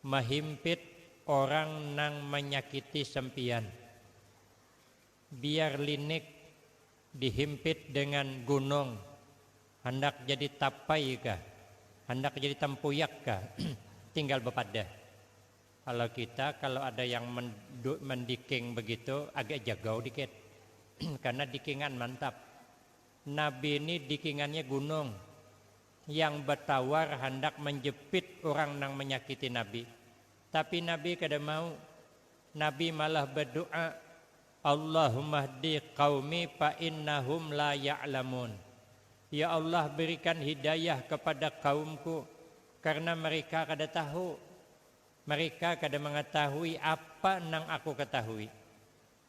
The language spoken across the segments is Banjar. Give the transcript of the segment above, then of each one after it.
Mahimpit orang nang manyakiti sampiyan. Biar linik dihimpit dengan gunung, handak jadi tapai kah, handak jadi tampuyak kah, tinggal bapadah. Kalau kita kalau ada yang mandiking begitu agak jagau dikit karena dikingan mantap. Nabi ni dikingannya gunung, yang batawar handak manjepit urang nang manyakiti Nabi. Tapi Nabi kada mau. Nabi malah badu'a, Allahummahdi qaumi fa innahum la ya'lamun. Ya Allah berikan hidayah kapada kaumku karna mereka kada tahu. Mereka kada mangatahui apa nang aku katahui.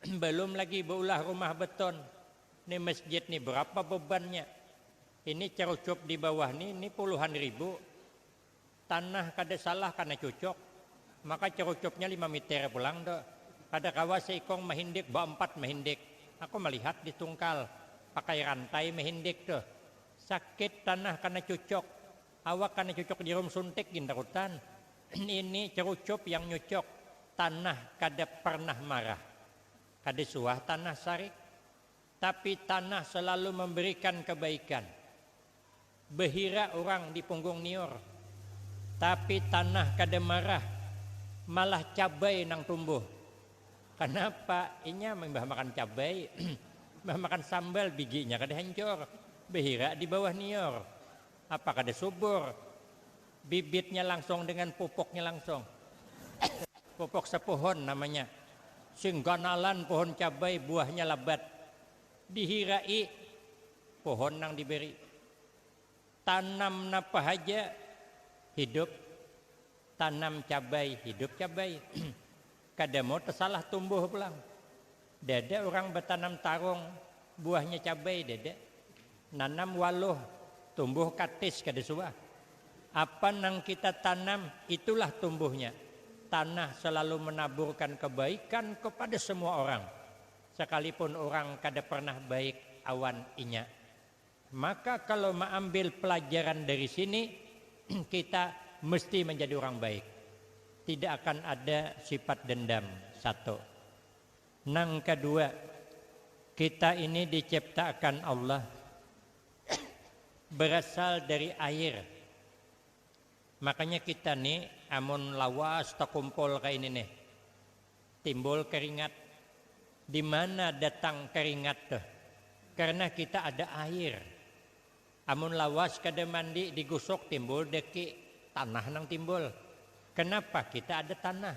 Belum lagi beulah rumah beton. Ni masjid ni berapa bebannya. Ini cerucuk di bawah ni, ni puluhan ribu. Tanah kada salah karena cucuk. Maka cerucuknya lima miter pulang tu. Kada kawa seikung mahindik, baempat mahindik. Aku malihat di tungkal. Pakai rantai mahindik tu. Sakit tanah karena cucuk. Awak kana cucuk jarum suntik gin tarutan. Ini cerucup yang nyucuk. Tanah kada pernah marah. Kada suah tanah sarik. Tapi tanah selalu memberikan kebaikan. Behira urang di punggung niur. Tapi tanah kada marah. Malah cabai nang tumbuh. Kanapa? Inya imbah makan cabai, imbah makan sambal biginya kada hancur. Behira di bawah niur. Apa kada subur bibitnya langsung dengan pupuknya langsung. Pupuk sepohon namanya. Sing ganalan pohon cabai buahnya labat. Dihirai pohon nang diberi. Tanam napa haja hidup tanam cabai hidup cabai. Kada mau tesalah tumbuh pulang. Dede urang batanam tarung, buahnya cabai dede. Nanam waluh, tumbuh katis kada suah. Apa nang kita tanam, itulah tumbuhnya. Tanah selalu menaburkan kebaikan kepada semua orang, sekalipun urang kada pernah baik awan inya. Maka kalau maambil pelajaran dari sini, kita mesti menjadi urang baik. Tidak akan ada sifat dendam. Satu. Nang kadua, kita ini diciptaakan Allah berasal dari air, makanya kita ni amun lawas takumpul kaya ini nih timbul keringat, dimana datang keringat tuh karena kita ada air, amun lawas kada mandi digusuk timbul daki tanah nang timbul, kenapa kita ada tanah.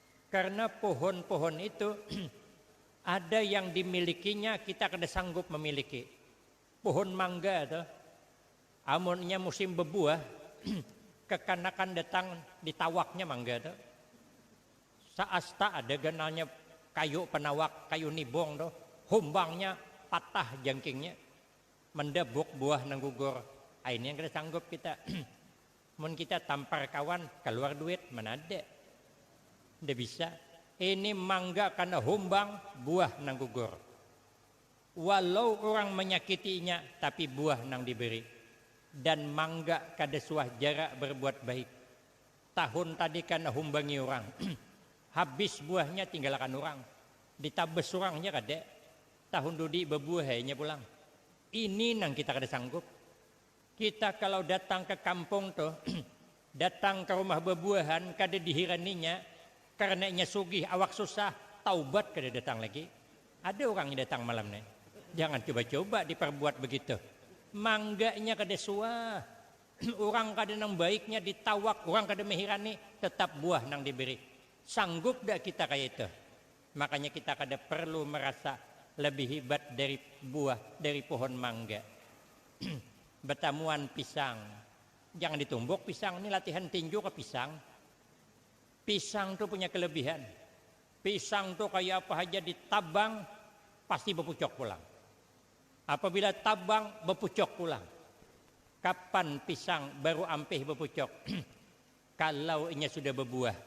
Karena pohon-pohon itu ada yang dimilikinya kita kada sanggup memiliki. Pohon mangga itu amunnya musim bebuah kekanakan datang ditawaknya mangga itu. Saasta ada ganalnya kayu penawak, kayu nibung itu, humbangnya patah jangkingnya mendabuk buah nang gugur. Ini yang kada sanggup kita. Mun kita tampar kawan, kaluar duit, mana ada. Nda bisa. Ini mangga kana humbang buah nang gugur. Walau urang manyakiti inya, tapi buah nang diberi. Dan mangga kada suah jarak berbuat baik. Tahun tadi kana humbangi urang, habis buahnya tinggalakan urang. Ditabas urang ja kada. Tahun dudi babuah ai inya pulang. Ini nang kita kada sanggup. Kita kalau datang ke kampung tuh, datang ke rumah bebuahan kada dihiraninya karena inya sugih awak susah, taubat kada datang lagi. Ada urang yang datang malam nih, jangan coba-coba diperbuat begitu. Mangganya kada suwa, urang kada nang baiknya ditawak, urang kada mehirani, tetap buah nang diberi. Sanggup dah kita kaya itu? Makanya kita kada perlu merasa lebih hibat dari buah dari pohon mangga. Betamuan pisang, jangan ditumbuk pisang ni latihan tinju kah pisang. Pisang tu punya kelebihan, pisang tu kaya apa haja ditabang pasti bepucok pulang. Apabila tabang bepucok pulang. Kapan pisang baru ampih bepucok? Kalau inya sudah bebuah.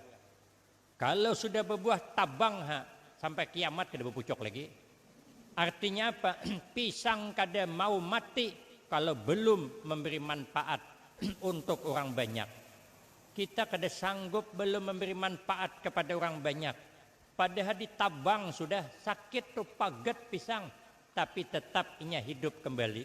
Kalo sudah babuah tabang ha sampai kiamat kada bapucuk lagi. Artinya apa? Pisang kada mau mati kalo belum memberi manfaat untuk urang banyak. Kita kada sanggup belum memberi manfaat kepada urang banyak. Padahal di tabang sudah sakit tu pagat pisang tapi tetap inya hidup kembali.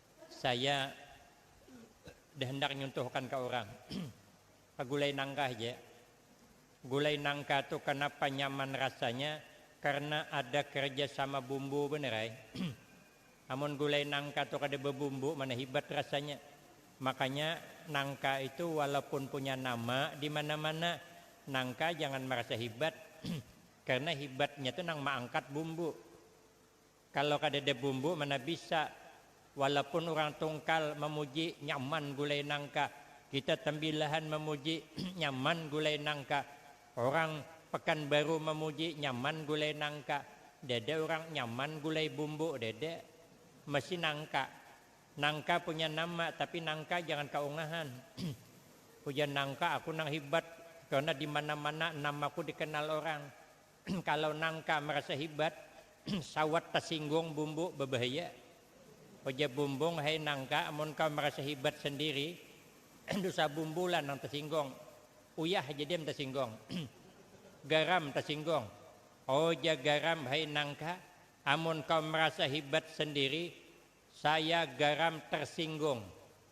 Saya dah handak nyuntuhkan ka urang ka gulai nangka haja. Gulai nangka tu kanapa nyaman rasanya karna ada kerja sama bumbu banar ai. Amun gulai nangka tu kada babumbu mana hibat rasanya. Makanya nangka itu walaupun punya nama di mana-mana, nangka jangan marasa hibat karna hibatnya tu nang maangkat bumbu. Kalo kadada bumbu mana bisa. Walaupun urang tungkal mamuji nyaman gulai nangka, kita tambilahan mamuji nyaman gulai nangka. Orang pekanbaru mamuji nyaman gulai nangka. Dada urang nyaman gulai bumbu, dada. Masi nangka. Nangka punya nama, tapi nangka jangan kaungahan. Ujar nangka aku nang hibat, karena dimana-mana namaku dikenal orang. Kalau nangka marasa hibat, sawat tasinggung bumbuk babahaya. Ujar bumbung, hai nangka amun kau marasa hibat sandiri, dusa bumbuk lah nang tasinggung. Uyah ja dem tasinggung. Garam tasinggung. Ujar garam, hai nangka amun kau marasa hibat sandiri, Saya garam tersinggung,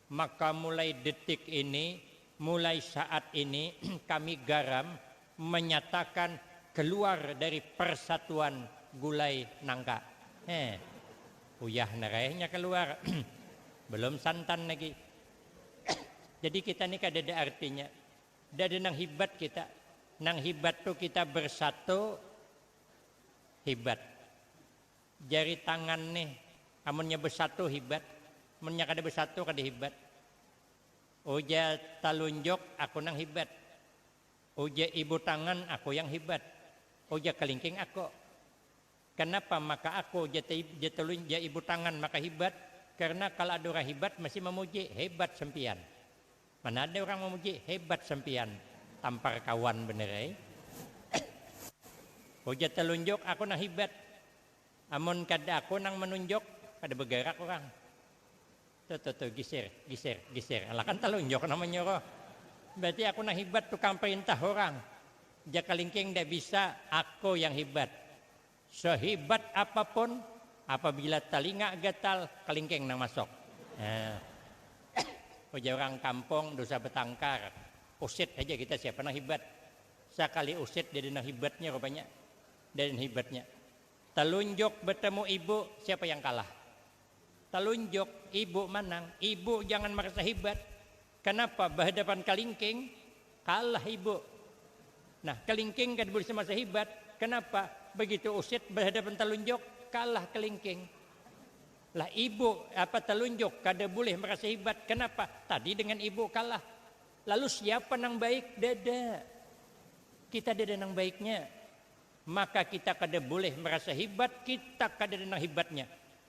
maka mulai detik ini, mulai saat ini kami garam menyatakan keluar dari persatuan gulai nangka. Heh. Uyah nara eh nya keluar. Belum santan lagi. Jadi kita ni kadada artinya. Nda ada nang hibat kita. Nang hibat tu kita bersatu hibat. Jari tangan nih, amunnya besatu hibat, munnya kada besatu kada hibat. Ujar talunjuk aku nang hibat, ujar ibu tangan aku yang hibat, ujar kelingking aku. Kenapa maka aku jar ibu tangan maka hibat, karena kala ada urang hibat mesti memuji, hebat sempian. Mana ada urang mamuji hebat sampiyan tampar kawan banar ai. Ujar talunjuk aku nang hibat. Amun kada aku nang manunjuk kada bagarak urang. Tuh tuh tuh gisir gisir gisir alah kan talunjuk nang manyuruh. Berarti aku nang hibat tukang parintah urang. Jakalingking nda bisa aku yang hibat. Sehibat apapun, apabila talinga gatal, kalingking nang masuk. Ujar urang kampung dusa batangkar, usit haja kita siapa nang hibat. Sakali usit deden nang hibatnya rupanya. Deden hibatnya. Talunjuk batamu ibu, siapa yang kalah. Talunjuk, ibu manang. Ibu jangan marasa hibat. Kanapa bahadapan kalingking? Kalah ibu. Nah, kalingking kada bisa masa hibat. Kanapa? Bagitu usit bahadapan talunjuk, kalah kalingking. Lah ibu apa talunjuk kada boleh marasa hibat. Kanapa? Tadi dengan ibu kalah. Lalu siapa nang baik? Dada. Kita dada nang baiknya. Maka kita kada boleh marasa hibat, kita kadada nang hibatnya.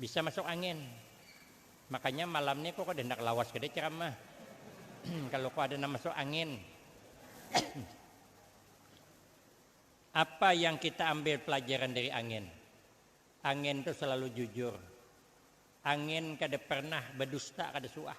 Bisa masuk angin. Makanya malam ni aku kada handak lawas kada ceramah. Kalu aku ada nang masuk angin. Apa yang kita ambil pelajaran dari angin? Angin tu selalu jujur. Angin kada pernah badusta kada suah.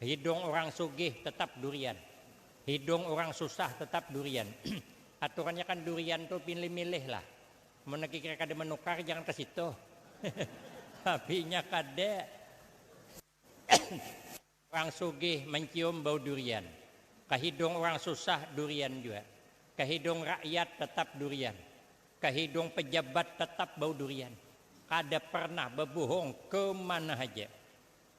Hidung urang sugih tetap durian, hidung urang susah tetap durian. Aturannya kan durian tu pilih milih lah. Mun lagi kira kada manukar jangan ka situ. Tapi inya kada. Urang sugih mancium bau durian. Ka hidung urang susah durian jua. Ka hidung rakyat tetap durian. Ka hidung pejabat tetap bau durian. Kada pernah babuhung kemana haja.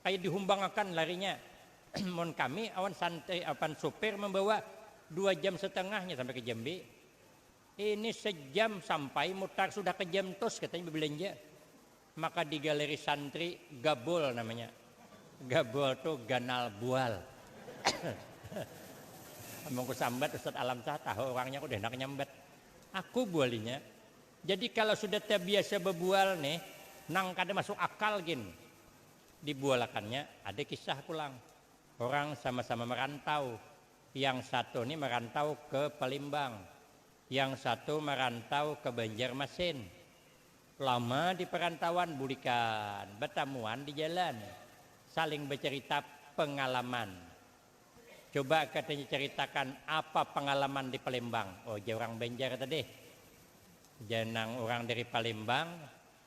Kaya dihumbangakan larinya. Mun kami awan Santai apan supir mambawa, dua jam setengah inya sampai ka Jambi. Ini sejam sampai mutar sudah ka Jamtus katanya babelanja. Maka di galeri santri Gabol namanya. Gabol tu ganal bual. Amun ku sambat Ustaz Alamsah tahu urangnya aku dahinak nyambat. Aku bualinya. Jadi kalo sudah tabiasa babual nih nang kada masuk akal gin. Di bualakannya ada kisah pulang, orang sama-sama marantau, yang satu ni marantau ke Palembang, yang satu marantau ke Banjarmasin. Lama di parantauan bulikan batamuan di jalan, saling bacarita pangalaman. Coba katanya caritakan apa pangalaman di Palembang, ujar orang Banjar tadi. Ujar nang orang dari Palembang.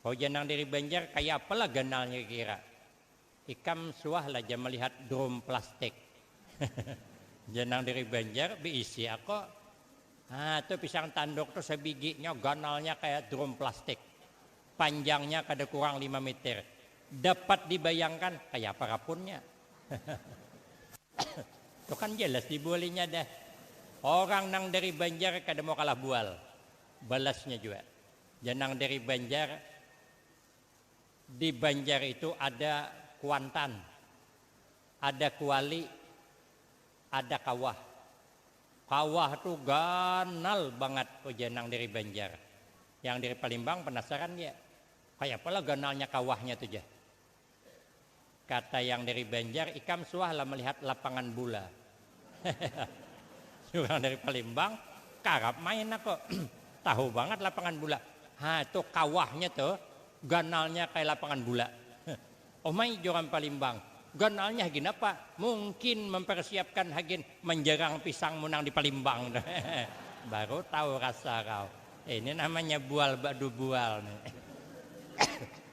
Hujan nang dari Banjar kaya apa lah ganalnya kira? Ikam suah lah ja malihat drum plastik. Hujan nang dari Banjar beisi ako. Haa tu pisang tanduk tu sabigi nya ganalnya kaya drum plastik. Panjangnya kada kurang lima meter. Dapat dibayangkan kaya apa rapunnya. tu kan jelas dibualinya dah. Orang nang dari Banjar kada mau kalah bual. Balasnya jua. Jar nang dari Banjar, di Banjar itu ada Kuantan, ada Kuali, ada Kawah. Kawah tu ganal bangat ujar nang dari Banjar. Yang dari Palembang penasaran ja, kayapa lah ganalnya kawahnya tu jar. Kata yang dari Banjar, ikam suah lah melihat lapangan bula. Urang dari Palembang, karap main aku. Tahu bangat lapangan bula. Ha, tu kawahnya tu, ganalnya kaya lapangan bula. Umai jar urang Palembang, ganalnya hagin apa? Mungkin mempersiapkan hagin menjerang pisangmu nang di Palembang. Baru tahu rasa kau. Ini namanya bual badu bual.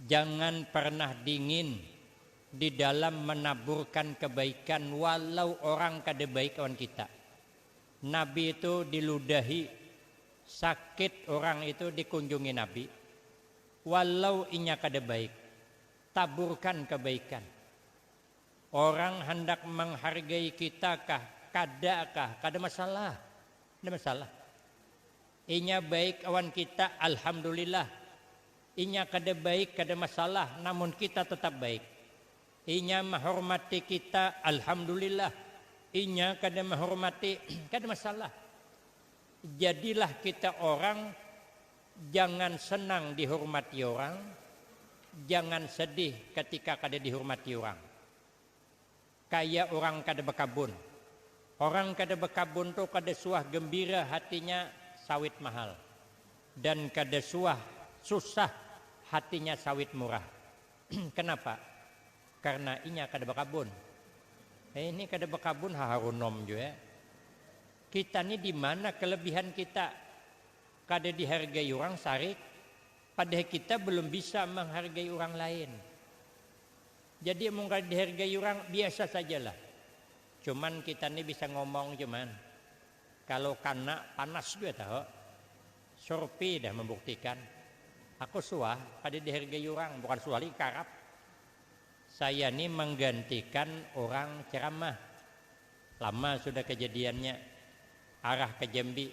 Jangan pernah dingin di dalam menaburkan kebaikan walau orang kada baik lawan kita. Nabi itu diludahi, sakit orang itu dikunjungi Nabi, walau inya kada baik, taburkan kebaikan. Orang handak menghargai kita kah, kada kah, kada masalah. Nda masalah. Inya baik awan kita, alhamdulillah. Inya kada baik, kada masalah, namun kita tetap baik. Inya mahormati kita, alhamdulillah. Inya kada mahormati, kada masalah. Jadilah kita orang, jangan senang dihormati orang, jangan sedih ketika kada dihormati orang. Kaya urang kada bakabun. Orang kada bakabun tu kada suah gembira hatinya sawit mahal, dan kada suah susah hatinya sawit murah. Kanapa? Karna inya kada bakabun. Ini kada bakabun haharunom jua. Kita ni dimana kalabihan kita? Kada dihargai urang sarik, padahal kita balum bisa manghargai urang lain. Jadi mun kada dihargai urang biasa saja lah. Cuman kita ni bisa ngomong cuman kalu kana panas jua tahu. Surpi dah mambuktikan. Aku suah kada dihargai urang, bukan suah lagi karap. Saya ni manggantikan urang ceramah. Lama sudah kejadiannya. Arah ka Jambi.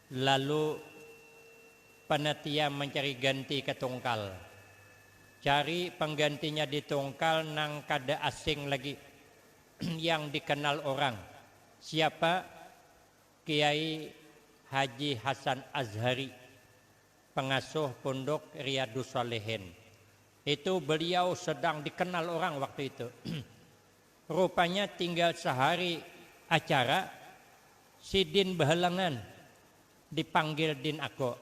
Lalu panatia mancari ganti ka tungkal. Cari panggantinya di tungkal nang kada asing lagi, yang dikanal urang. Siapa? Kiai Haji Hasan Azhari, pangasuh Punduk Riyadus Shalihin. Itu beliau sedang dikanal urang waktu itu. Rupanya tinggal sahari acara, sidin bahalangan dipanggil din ako.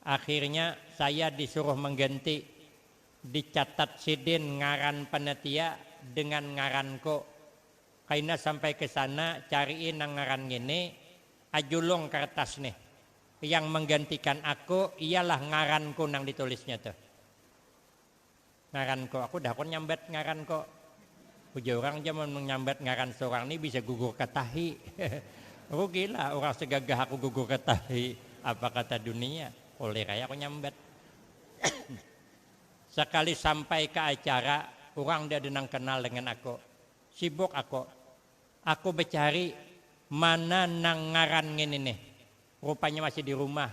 Akhirnya saya disuruh mangganti, dicatat sidin ngaran panatia dengan ngaranko. Kaina sampai ke sana carii nang ngaran ngini, ajulung kartas nih. Yang manggantikan ako ialah ngaranku nang ditulisnya tuh. Ngaran ko, aku dakon nyambat ngaran ko. Ujar urang ja mun manyambat ngaran seorang ni bisa gugur ka tahi. Rugi lah urang segagah aku gugur ka tahi, apa kata dunia. Kulir ai aku nyambat. Sekali sampai ka acara, urang nda ada nang kenal dengan aku. Sibuk aku. Aku becari mana nang ngaran ngini nih. Rupanya masih di rumah.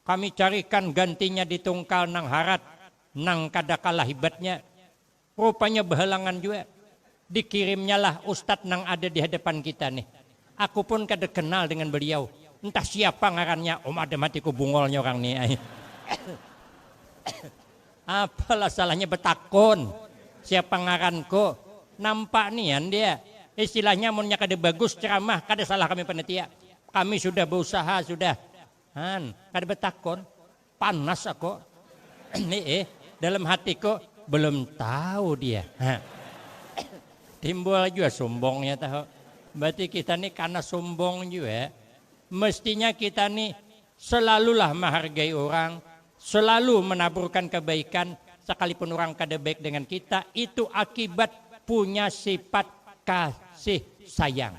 Kami carikan gantinya di tungkal nang harat, nang kada kalah hibatnya. Rupanya bahalangan jua. Dikirimnyalah ustad nang ada di hadapan kita nih. Aku pun kada kenal dengan beliau. Entah siapa ngarannya, um adam hatiku bungolnya urang nih ai. Apalah salahnya batakun, siapa ngaranku. Nampak nian dia. Istilahnya amunnya kada bagus ceramah, kada salah kami panitia. Kami sudah bausaha sudah. Han, kada betakon, panas ako. Eeh, dalam hatiko, belum tahu dia. Timbul jua sumbongnya tahu. Berarti kita ni karena sumbong jua, mestinya kita ni selalulah menghargai orang, selalu menaburkan kebaikan sekalipun orang kada baik dengan kita, itu akibat punya sifat kasih sayang.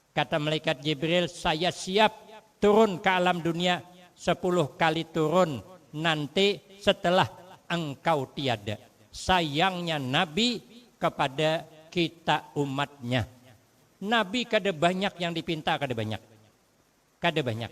Kata malaikat Jibril, Saya siap turun ka alam dunia sapuluh kali turun nanti setelah engkau tiada. Sayangnya Nabi kepada kita umatnya. Nabi kada banyak yang dipinta, kada banyak. Kada banyak.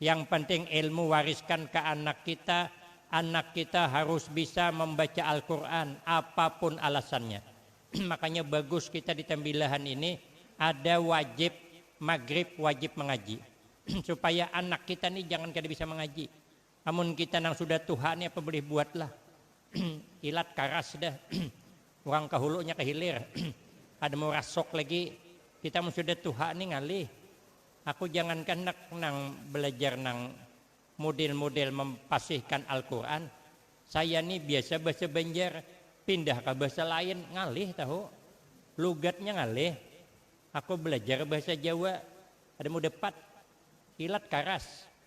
Yang penting ilmu wariskan ke anak kita, anak kita harus bisa membaca Alquran apapun alasannya. Makanya bagus kita di Tembilahan ini ada wajib magrib wajib mengaji supaya anak kita nih jangan kada bisa mengaji. Amun kita nang sudah tuha nih apa boleh buat lah ilat karas dah urang ke hulunya ke hilir kada mau rasuk lagi kita mun sudah tuha nih ngalih. Aku jangan kanak nang belajar nang mudel mudel mempasihkan alquran, saya ni biasa bahasa banjar pindah ka bahasa lain ngalih tahu, lugatnya ngalih, aku belajar bahasa jawa ada mudapat, ilat karas.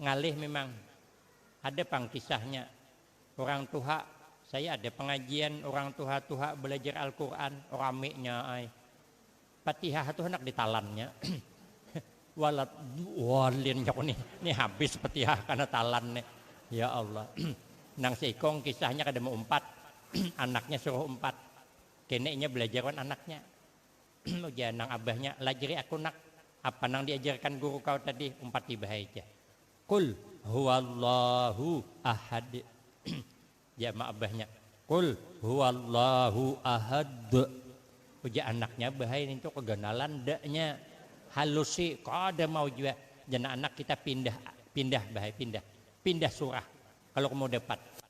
Ngalih mimang. Ada pang kisahnya. Urang tuha, saya ada pengajian urang tuha-tuha belajar Al-Quran, ramiknya ai. Patihah tu handak ditalannya. Waladhdallin jaku nih, nih habis Patihah karena talan nih. Ya Allah. Nang seikung kisahnya kada mau umpat, anaknya suruh umpat. Keneknya belajar wan anaknya. Ujar nang abahnya, lajari aku nak, apa nang diajarkan guru kau tadi, umpati bahai ja. Qul huwallahu ahad. Ujar ma abahnya, Qul huwallahu ahad. Ujar anaknya bahai nintu keganalan da nya. Halusi kada mau jua. Jar nang anak kita pindah pindah bahai pindah pindah surah kalu kamu dapat.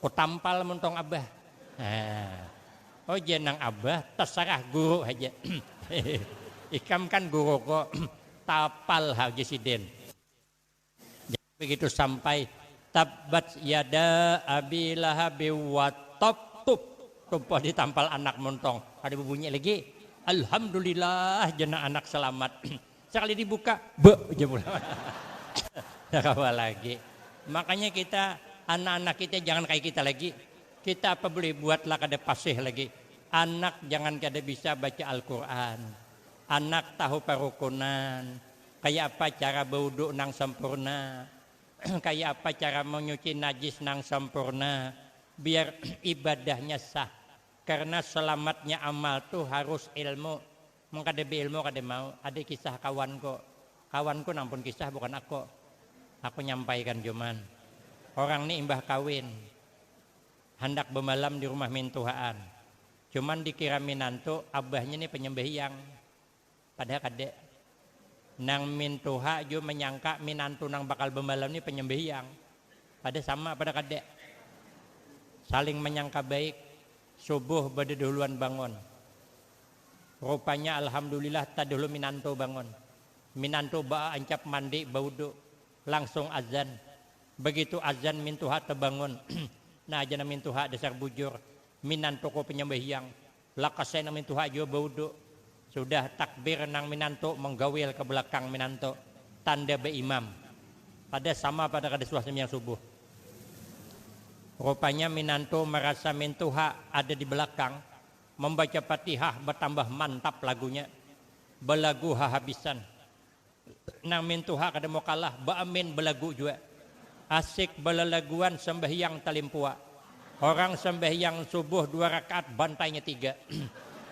Ku tampal mun tong abah. Haa. Oh jar nang abah, tasarah guru haja. Ikam kan guru ko. Tapal ha lagi sidin. Jadi begitu sampai, Tabbat yada abi lahabim wat tob tup. Tumpah di tampal anak mun tong. Kada bebunyi lagi. Alhamdulillah jar nang anak selamat. Sakali dibuka, be ja pulang. Kada kawa lagi. Makanya kita, anak-anak kita jangan kaya kita lagi. Kita apa bulih buat lah kada pasih lagi. Anak jangan kada bisa baca Al-Quran. Anak tahu parukunan, kaya apa cara bawudu nang sampurna, kaya apa cara manyuci najis nang sampurna biar ibadahnya sah. Karena selamatnya amal tu harus ilmu. Mun kada beilmu kada mau. Ada kisah kawanku, kawanku nang pun kisah bukan aku, aku nyampaikan jua man. Orang ni imbah kawin handak bemalam di rumah mintuhaan, cuman dikira minantu abahnya ni penyembahyang, padahal kada. Nang mintuha jua menyangka minantu nang bakal bemalam ni penyembahyang, padahal sama padahal kada. Saling menyangka baik, subuh badadahuluan bangun. Rupanya alhamdulillah tadahulu minantu bangun. Minantu baancap mandi baudu. Langsung azan. Bagitu azan mintuha tabangun. Nah aja nang mintuha dasar bujur. Minantuku panyambahyang. Lakas ai nang mintuha jua baudu. Sudah takbir nang minantu manggawil ka balakang minantu. Tanda baimam. Kada sama pada kada suah sambahyang subuh. Rupanya minantu marasa mintuha ada di balakang. Mambaca Fatihah batambah mantap lagunya. Balagu hahabisan. Nang mintuha kada mau kalah baamin balagu jua. Asik balalaguan sambahyang talimpua. Orang sambahyang subuh dua rakaat bantainya tiga.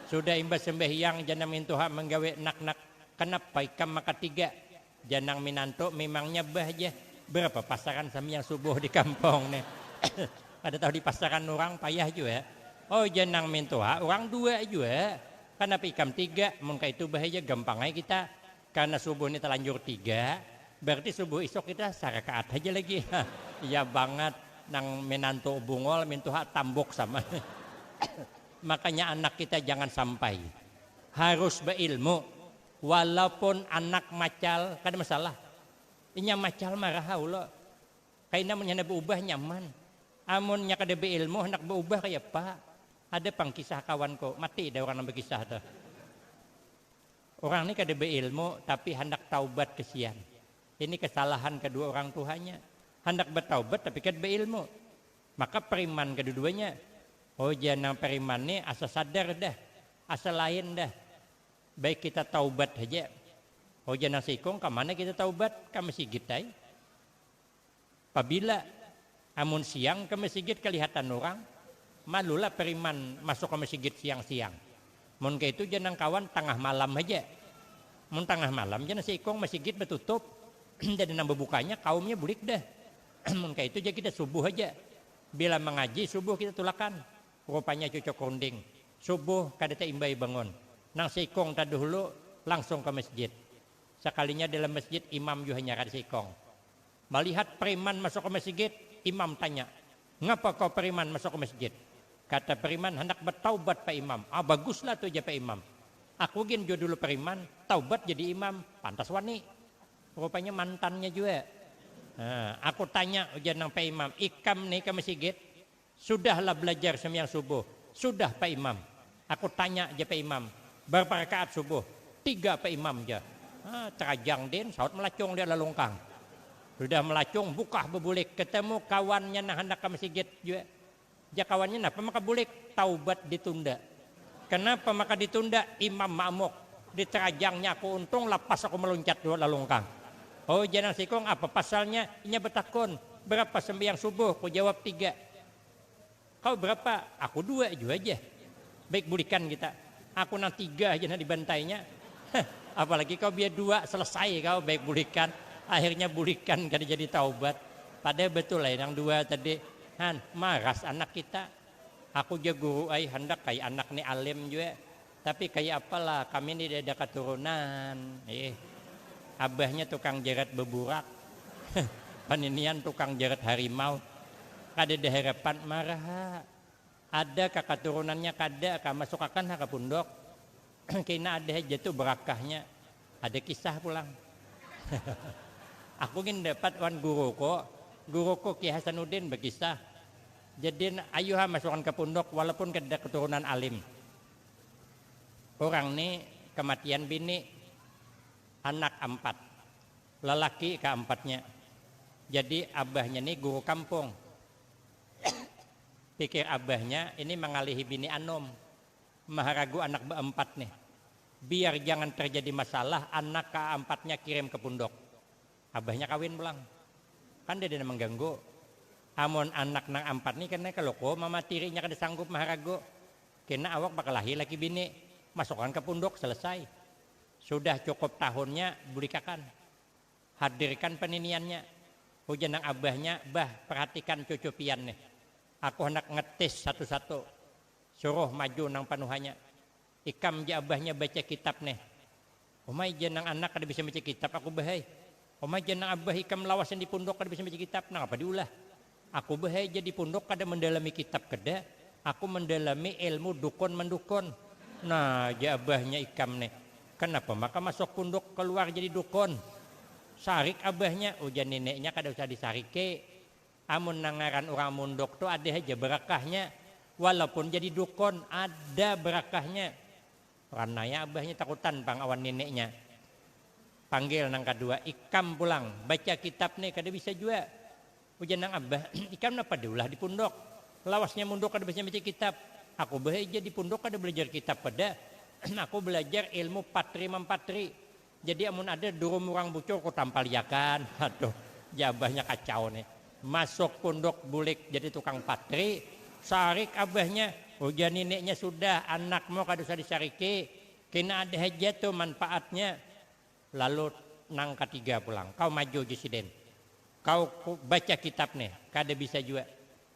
Sudah imbah sambahyang ja nang mintuha manggawi nak-nak, kanapa ikam maka tiga? Jar nang minantu, mimangnya bah ja, berapa pasaran sambiang subuh di kampong ne. Kada tahu di pasaran urang payah jua. Oh jar nang mintuha, urang dua jua, kanapa ikam tiga, mun kaitu bah ja gampang ai kita, karna subuh ni talanjur tiga, berarti subuh isuk kita sarakaat haja lagi. Iya bangat, nang minantu bungol, mintuha tambuk sama. Makanya anak kita jangan sampai harus bailmu. Walaupun anak macal kada masalah. Inya macal maraha ulo. Kaina munnya handak baubah nyaman. Amunnya kada bailmu handak baubah kayapa. Ada pang kisah kawanku, mati dah urang nang bakisah tuh. Urang ni kada bailmu tapi handak taubat kasian. Ini kasalahan kadua urang tuhanya. Handak bataubat tapi kada bailmu. Maka pariman kaduduanya. Oh jar nang pariman ni asa sadar dah. Asa lain dah. Baik kita taubat haja. Ujar nang saikung, kamana kita taubat? Ka masigit ai. Pabila? Amun siang ka masigit kalihatan urang, malulah pariman masuk ka masigit siang-siang. Mun kaitu jar nang kawan, tangah malam haja. Mun tangah malam jar nang saikung, masigit batutup, inda ada nang babukanya, kaumnya bulik dah. Mun kaitu jar kita, subuh haja. Bila mangaji subuh kita tulakan. Rupanya cucuk runding subuh kada taimbai bangun. Nang seikung taduhulu langsung ka masjid. Sakalinya dalam masjid imam jua hanyaran seikung. Malihat priman masuk ka masigit, imam tanya, Ngapa ko priman masuk ka masjid? Kata priman handak bataubat pa imam. Ah baguslah tu ja pa imam. Aku gin jua dulu priman, taubat jadi imam, pantas wani. Rupanya mantannya jua. Nah, aku tanya ujar nang pa imam, Ikam ni ka masigit? Sudah lah belajar sembiang subuh? Sudah pak imam. Aku tanya ja pak imam, barapa rakaat subuh? Tiga pak imam ja. Ha, terajang din, sahut melacung dia lalungkang. Sudah melacung, bukah bebulik, ketemu kawannya nang handak ka masigit jua. Jar kawannya, napa maka bulik? Taubat ditunda. Kenapa maka ditunda? Imam ma'muk. Di terajangnya aku untung lapas aku meluncat dua lalungkang. Oh ujar nang sikung, apa pasalnya? Inya betakun, berapa sembahyang subuh? Ku jawab tiga. Kau berapa? Aku dua jua ja. Baik bulikan kita. Aku nang tiga haja nang dibantainya. Heh, apalagi kau biar dua, selesai kau baik bulikan. Akhirnya bulikan kada jadi taubat. Pada betul ai nang dua tadi. Han, maras anak kita. Aku ja guru ai handak ai anak ni alim jua, tapi kaya apa lah kami ni dada katurunan. Ih, abahnya tukang jarat beburak, paninian tukang jarat harimau, kadada harapan marah ha. Ada ka katurunannya kada ka, masuk akan ha ka pundok. Kina ada haja tu berakahnya. Ada kisah pulang. Aku gin dapat wan guruku, guruku Ki Hasanuddin bekisah. Jadin ayuha masukan ka punduk walaupun kadada katurunan alim. Urang ni kamatian bini, anak ampat, lalaki ka ampatnya. Jadi abahnya ni guru kampung. Pikir abahnya ini mangalihi bini anum, maharagu anak baampat nih. Biar jangan tarjadi masalah anak kaampatnya kirim ka punduk. Abahnya kawin pulang. Kan dada nang mangganggu. Amun anak nang ampat ni kena kaluku mama tirinya kada sanggup maharagu. Kena awak bakalahi laki bini. Masukakan ka punduk, selesai. Sudah cukup tahunnya bulikakan. Hadirkan paniniannya. Ujar nang abahnya, Bah, parhatikan cucu pian nih. Aku handak ngetis satu-satu. Suruh maju nang panuhanya. Ikam ja abahnya baca kitab neh. Umai ja nang anak kada bisa baca kitab aku bah ai. Umai ja nang abah ikam lawasan di punduk kada bisa baca kitab, nangapa di ulah. Aku bah ai ja di punduk kada mandalami kitab keda, aku mandalami ilmu dukun mandukun. Nah ja abahnya ikam neh. Kanapa maka masuk punduk kaluar jadi dukun. Sarik abahnya, ujar nineknya kada usah disariki. Amun nang ngaran urang mundok tu ada haja barakahnya, walaupun jadi dukun ada barakahnya. Orang naya abahnya takutan pang awan nineknya. Panggil nang kadua, ikam pulang baca kitab ni kada bisa jua. Ujar nang abah, ikam napa ada ulah di pundok. Lawasnya mundok kada bisa baca kitab. Aku bahaja di pundok kada balajar kitab pada, aku balajar ilmu patri mampatri. Jadi amun ada durum urang bucur ku tampaliakan, aduh jabahnya kacau nih. Masuk punduk bulik jadi tukang patri, sarik abahnya, ujar nineknya sudah anak mau kada usah disariki, kena ada haja tuh manpaatnya. Lalu nang katiga pulang, kau maju uji sidin, kau baca kitab nih, kada bisa jua.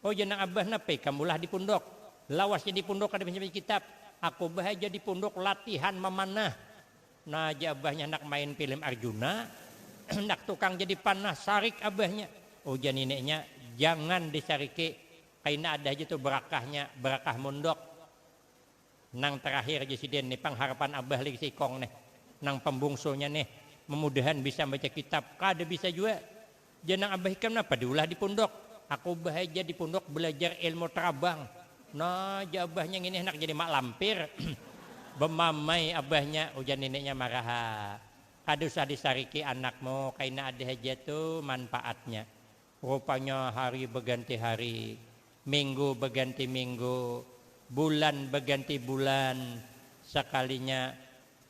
Ujar nang abah napa ikam ulah di punduk, lawasnya di punduk kada bisa baca kitab, aku bah haja di punduk latihan mamanah, Nah jar abahnya handak main pilim Arjuna, handak tukang jadi panah sarik abahnya. Ujar nineknya, jangan disariki, kaina ada haja tu berakahnya, berakah mundok. Nang terakhir jar sidin, ni pang harapan abah lagi si Ikong nih, nang pambungsunya nih, memudahan bisa membaca kitab, kada bisa jua. Jar nang abah ikam napa diulah di pundok, aku bahaja di pundok balajar ilmu tarabang, nah jar abahnya ngini handak jadi mak lampir, bamamai abahnya ujar nineknya maraha, kada usah di sariki anakmu kaina ada haja tu manpaatnya, rupanya hari baganti hari, minggu baganti minggu, bulan baganti bulan, sakalinya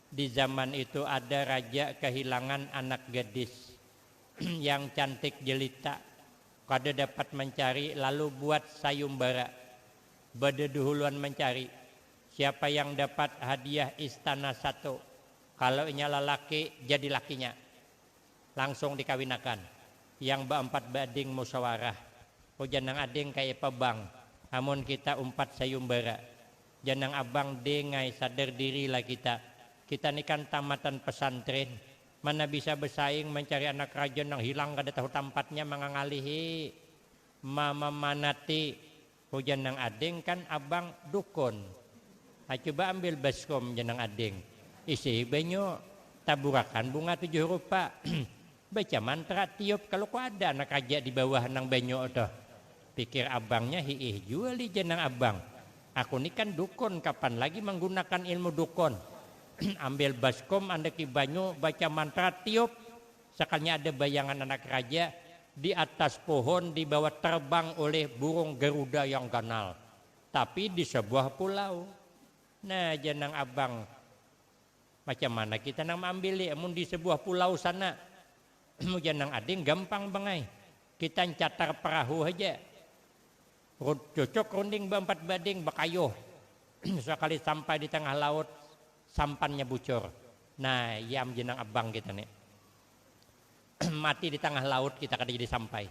di zaman itu ada raja kahilangan anak gadis, yang cantik jelita kada dapat mancari lalu buat sayumbara badaduhuluan mancari siapa yang dapat hadiah istana satu kalo inya lalaki jadi lakinya langsung dikawinakan yang baampat baading musawarah ujar nang ading kaiapa bang amun kita umpat sayumbara jar nang abang ding ai sadar diri lah kita kita ni kan tamatan pesantrin Mana bisa besaing mancari anak krajon nang hilang kada tahu tampatnya mangangalihi mamamanati hujan nang ading kan abang dukun ha cuba ambil baskom ja nang ading isihi banyu taburakan bunga tujuh rupa baca mantra tiup kalu kuada anak raja dibawah nang banyu tuh Pikir abangnya hiih jua lih jar nang abang, aku ni kan dukun kapan lagi manggunakan ilmu dukun, ambil baskom andaki banyu baca mantra tiup, sakalinya ada bayangan anak raja di atas pohon dibawa terbang ulih burung garuda yang ganal tapi di sabuah pulau. Nah jar nang abang, macam mana kita nang maambil lih amun di sabuah pulau sana. Muja nang ading gampang pang ai. Kita ncatar perahu haja. Cucuk runding baempat bading bakayuh. Sakali sampai di tangah laut, sampannya bucur. Nah, iya am jenang abang kita ni. Mati di tangah laut kita kada jadi sampai.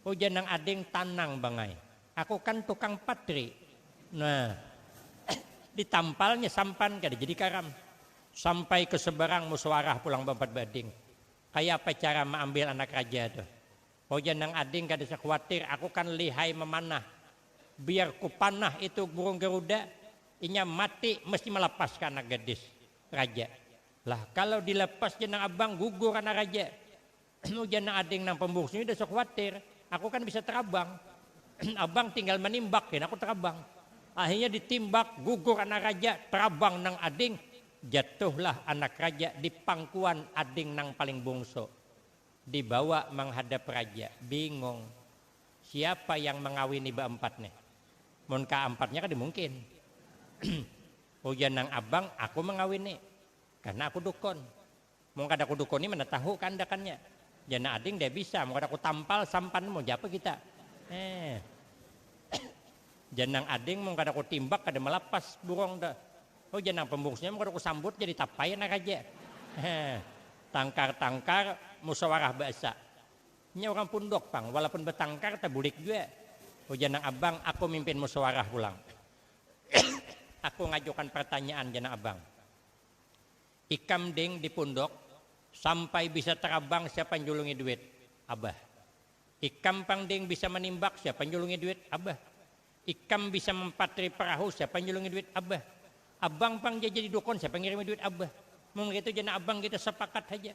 Ujar nang ading tanang pang ai. Aku kan tukang patri. Nah, ditampalnya sampan kada jadi karam. Sampai ke seberang musuarah pulang baempat bading. Kaya apa cara maambil anak raja tu? Ujar nang ading kada usah kuatir, aku kan lihai mamanah. Biar kupanah itu burung garuda, inya mati mesti malapas ka anak gadis raja. Lah kalau dilapas jar nang abang gugur anak raja. Ujar nang ading nang pambungsu, nyida usah kuatir, aku kan bisa tarabang. Abang tinggal manimbak gin aku tarabang. Akhirnya ditimbak, gugur anak raja, tarabang nang ading. Jatuhlah anak raja di pangkuan ading nang paling bungsu. Dibawa manghadap raja. Bingung. Siapa yang mangawini baampat nih? Mun kaampatnya kada mungkin. Ujar nang abang, aku mangawini. Karna aku dukun. Mun kada kudukuni mana tahu kaandakannya. Jana ading deh bisa mun kada kutampal sampan mau japa kita. Heh. Janang ading mun kada kutimbak kada malapas burung tu. Ho janang pembungsunya mun kada kusambut jadi tapai anak aja. Heh. Tangkar tangkar musawarah baasa. Nya urang punduk pang walaupun batangkar tabulik jua. Ho janang abang aku mimpin musawarah pulang. Aku ngajukan partanyaan janang abang. Ikam ding di punduk, sampai bisa tarabang siapa njulungi duit? Abah. Ikam pang ding bisa manimbak siapa njulungi duit? Abah. Ikam bisa mampatri perahu siapa njulungi duit? Abah. Abang pang ja jadi dukun siapa ngirimi duit? Abah. Mun kaitu ja nah abang kita sapakat haja.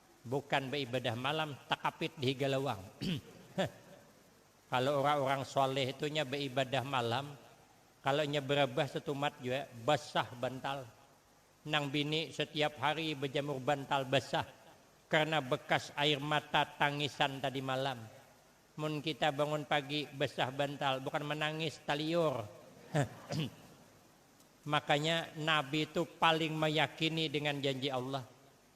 Bukan baibadah malam takapit di higa lawang. Heh. Kalo urang-urang shaleh tu nya baibadah malam, kalo nya barabah satumat jua basah bantal. Nang bini satiap hari bajamur bantal basah karna bakas air mata tangisan tadi malam. Mun kita bangun pagi basah bantal bukan manangis taliur. Heh. Makanya Nabi tu paling mayakini dengan janji Allah.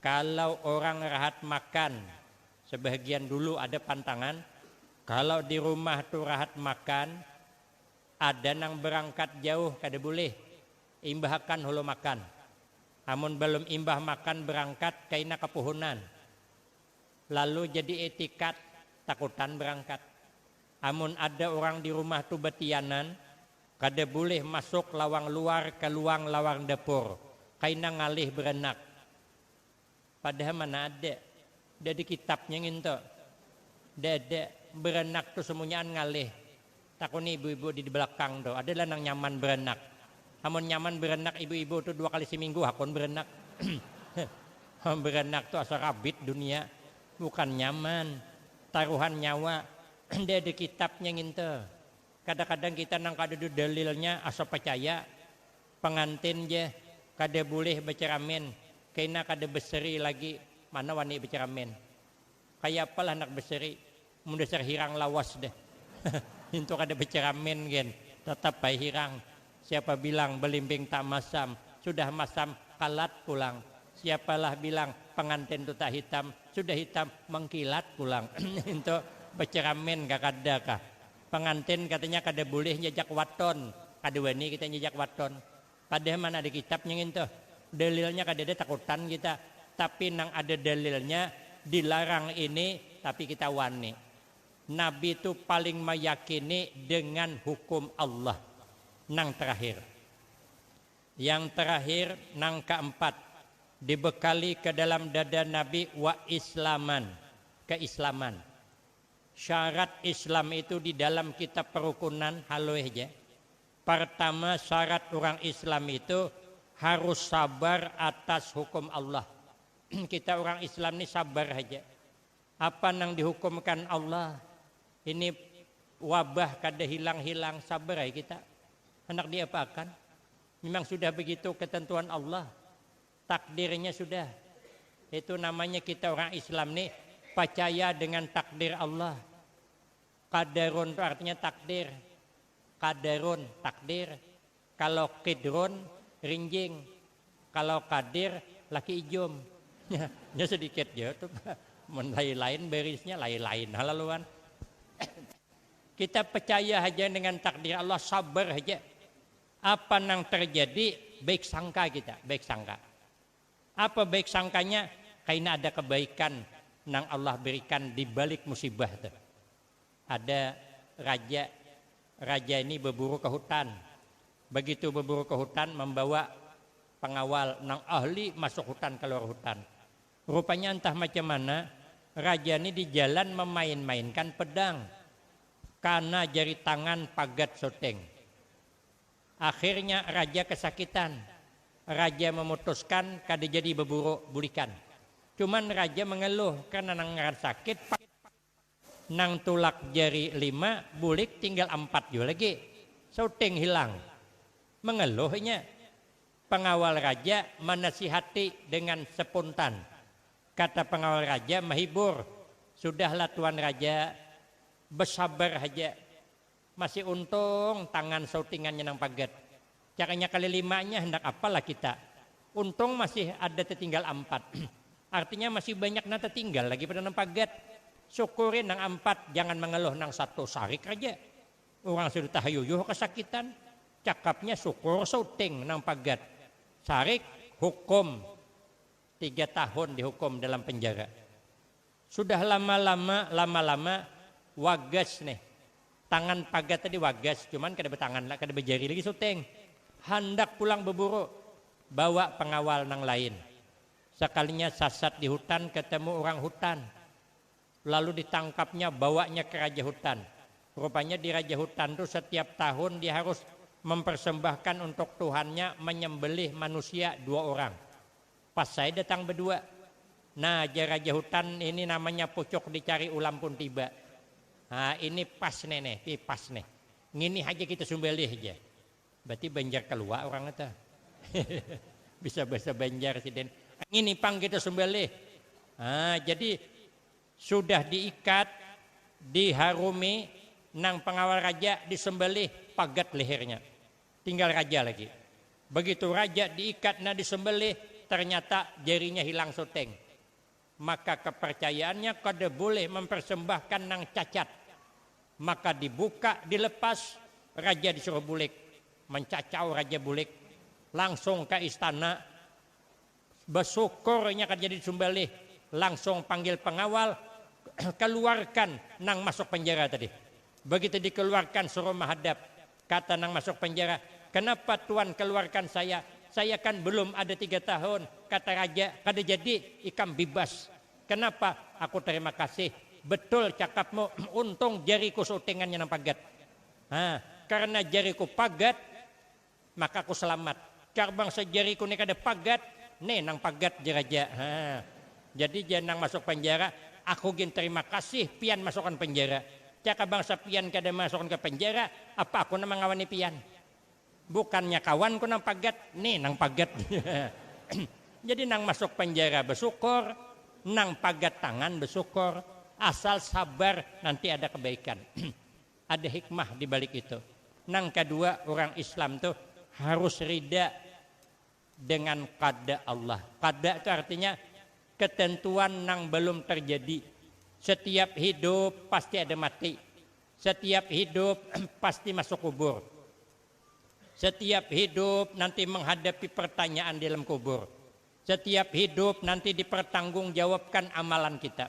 Kalau orang rahat makan, sebahagian dulu ada pantangan, kalau di rumah tu rahat makan, ada nang berangkat jauh kada bulih, imbahakan hulu makan. Amun balum imbah makan berangkat kaina kapuhunan, lalu jadi etikat takutan berangkat. Amun ada urang di rumah tu batianan, kada bulih masuk lawang luar ka luang lawang dapur, kaina ngalih baranak. Padahal mana ada, da di kitabnya ngintu. Da ada, baranak tu samunyaan ngalih. Takuni ibu-ibu di balakang tu, ada lah nang nyaman baranak. Amun nyaman baranak ibu-ibu tu dua kali saminggu hakun baranak. Baranak tu asa rabit dunia, bukan nyaman. Taruhan nyawa, nda ada kitabnya nginta. Kadakadang kita nang kadada dalilnya asa pacaya. Pangantin ja kada bulih bacaramin, kaina kada baseri lagi mana wani bacaramin. Kaya apa lah handak baseri, mun dasar hirang lawas dah. Hintu kada bacaramin gin, tatap ai hirang. Siapa bilang belimbing tak masam, sudah masam kalat pulang. Siapa lah bilang pengantin tu tak hitam, sudah hitam mengkilat pulang. Itu beceramin kah kada kah. Pengantin katanya kada bulih njajak waton, kada wani kita njajak waton. Padahal mana ada kitabnya ngintu. Dalilnya kadada takutan kita. Tapi nang ada dalilnya dilarang ini tapi kita wani. Nabi tu paling mayakini dengan hukum Allah nang terakhir. Yang terakhir nang kaempat dibekali ke dalam dada Nabi wa islaman, keislaman. Syarat islam itu di dalam kitab perukunan haloi ja. Pertama syarat urang islam itu harus sabar atas hukum Allah. Kita urang islam ni sabar haja. Apa nang dihukumkan Allah ini wabah kada hilang-hilang sabar ai kita handak diapaakan memang sudah begitu ketentuan Allah takdirnya sudah itu namanya kita orang Islam nih pacaya dengan takdir Allah qadarun tu artinya takdir qadarun takdir Kalo Qidrun, Rinjing. Kalo Qadir, laki ijum. Nya sedikit ja tu Pak. Mun lain-lain barisnya, lain-lain ha lalu wan. Kita percaya haja dengan takdir Allah, sabar haja. Apa nang terjadi, baik sangka kita, baik sangka. Apa baik sangkanya? Kaina ada kebaikan nang Allah berikan di balik musibah tu. Ada raja, raja ini baburu ka hutan, bagitu baburu ka hutan mambawa pangawal nang ahli masuk hutan kaluar hutan. Rupanya antah macam mana raja ni di jalan mamain-mainkan pedang, kana jari tangan pagat soting. Akhirnya raja kasakitan, raja mamutuskan kada jadi baburu bulikan. Cuman raja mangaluh karna nang ngaran sakit. Nang tulak jari lima bulik tinggal ampat jua lagi. Suting hilang. Mengeluh inya. Pengawal raja manasihati dengan sepuntan. Kata pengawal raja mahibur, Sudahlah tuan raja, besabar haja. Masih untung tangan sautingannya nang pagat. Caranya kali limanya handak apal lah kita. Untung masih ada tatinggal ampat. Artinya masih banyak nang tatinggal lagi pada nang pagat. Syukuri nang ampat, jangan mangaluh nang satu sarik haja. Urang sudah tahayuyuh kasakitan. Cakapnya syukur sauting nang pagat. Sarik, hukum tiga tahun dihukum dalam penjara. Sudah lama lama lama lama wagas nih tangan pagat tadi wagas cuman kada batangan lah kada bajari lagi suting handak pulang beburu bawa pengawal nang lain sakalinya sasat di hutan ketemu urang hutan lalu ditangkapnya bawanya ke raja hutan rupanya di raja hutan tu setiap tahun dia harus mempersembahkan untuk tuhannya menyembelih manusia dua urang. Pas ai datang bedua. Nah, jar raja hutan, ini namanya pucuk dicari ulam pun tiba. Haa, ini pas ne neh, pi pas neh. Ngini haja kita sumbalih, jar. Berarti Banjar Kelua urang nya tuh. Bisa bahasa Banjar sidin. Ngini pang kita sumbalih. Haa, jadi sudah diikat, diharumi, nang pengawal raja disembalih, pagat lehernya. Tinggal raja lagi. Begitu raja diikat nah disembelih, ternyata jarinya hilang suteng. Maka kepercayaannya kada boleh mempersembahkan nang cacat. Maka dibuka, dilepas, raja disuruh bulik. Mencacau raja bulik. Langsung ka istana. Basyukur inya kada jadi disumbalih, langsung panggil pangawal, kaluarkan nang masuk penjara tadi. Bagitu dikaluarkan suruh mahadap, kata nang masuk penjara, kanapa tuan kaluarkan saya, saya kan belum ada tiga tahun, kata raja kada jadi ikam bibas. Kanapa, aku tarima kasih, betul cakapmu, untung jariku sutingannya nang pagat. Hah, karena jariku pagat, Maka aku selamat. Jar bangsa jariku ne kada pagat, ne nang pagat jar aja. Ha. Jadi jar nang masuk panjara, aku gin terima kasih pian masukan panjara. Jaka bangsa pian kada masukan ke panjara, apa aku nang mangawani pian. Bukannya kawanku nang pagat, ne nang pagat. Jadi nang masuk panjara besyukur, nang pagat tangan besyukur. Asal sabar nanti ada kebaikan. Ada hikmah di balik itu. Nang kadua, urang Islam tu harus rida dengan qada Allah. Qada tu artinya ketentuan nang balum terjadi. Setiap hidup pasti ada mati. Setiap hidup pasti masuk kubur. Setiap hidup nanti menghadapi pertanyaan di dalam kubur. Setiap hidup nanti dipertanggungjawabkan amalan kita.